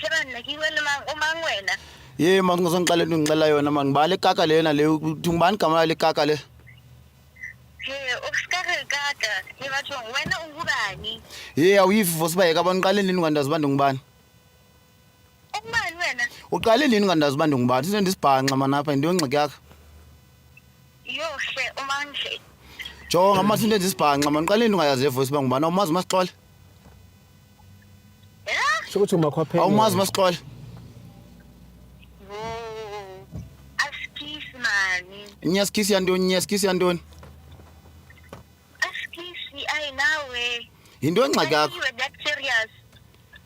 Phebana ke wena mang o mang wena? Ye mang o sengqale no ngcela yona mang ba le kaka le yena le thung bani kamana le kaka le. He o ska re kaka ke batho wena o ngubani? Ye a uyifi vose ba ye ka bona qale lini kandazi bantu ngubani? Ungubani wena? Uqale lini kandazi bantu ngubani? Sine ndisibhanxa manapha into yongxiki yakho. Yo hle umanje. Jonga manje into endisibhanxa man qale lini ungayazi le voice bangubani awumazi masixole. Sho ukuthi umakhwapheni. Awumazi masixole. Askisi mani. Nyaskisi yantoni? Nyaskisi yantoni? Askisi ayi nawe. Yinto engxaki yakho. Ayiwe that serious.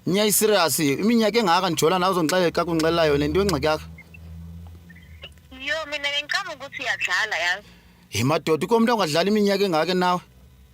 Nyayi serious. Iminyaka engaka ndijola nawe uzongixelela xa kunxelela yona into engxaki yakho. Yo mina ngicabanga ukuthi uyadlala yazi. Hi madoda ukomntu ongadlala iminyaka engaka nawe.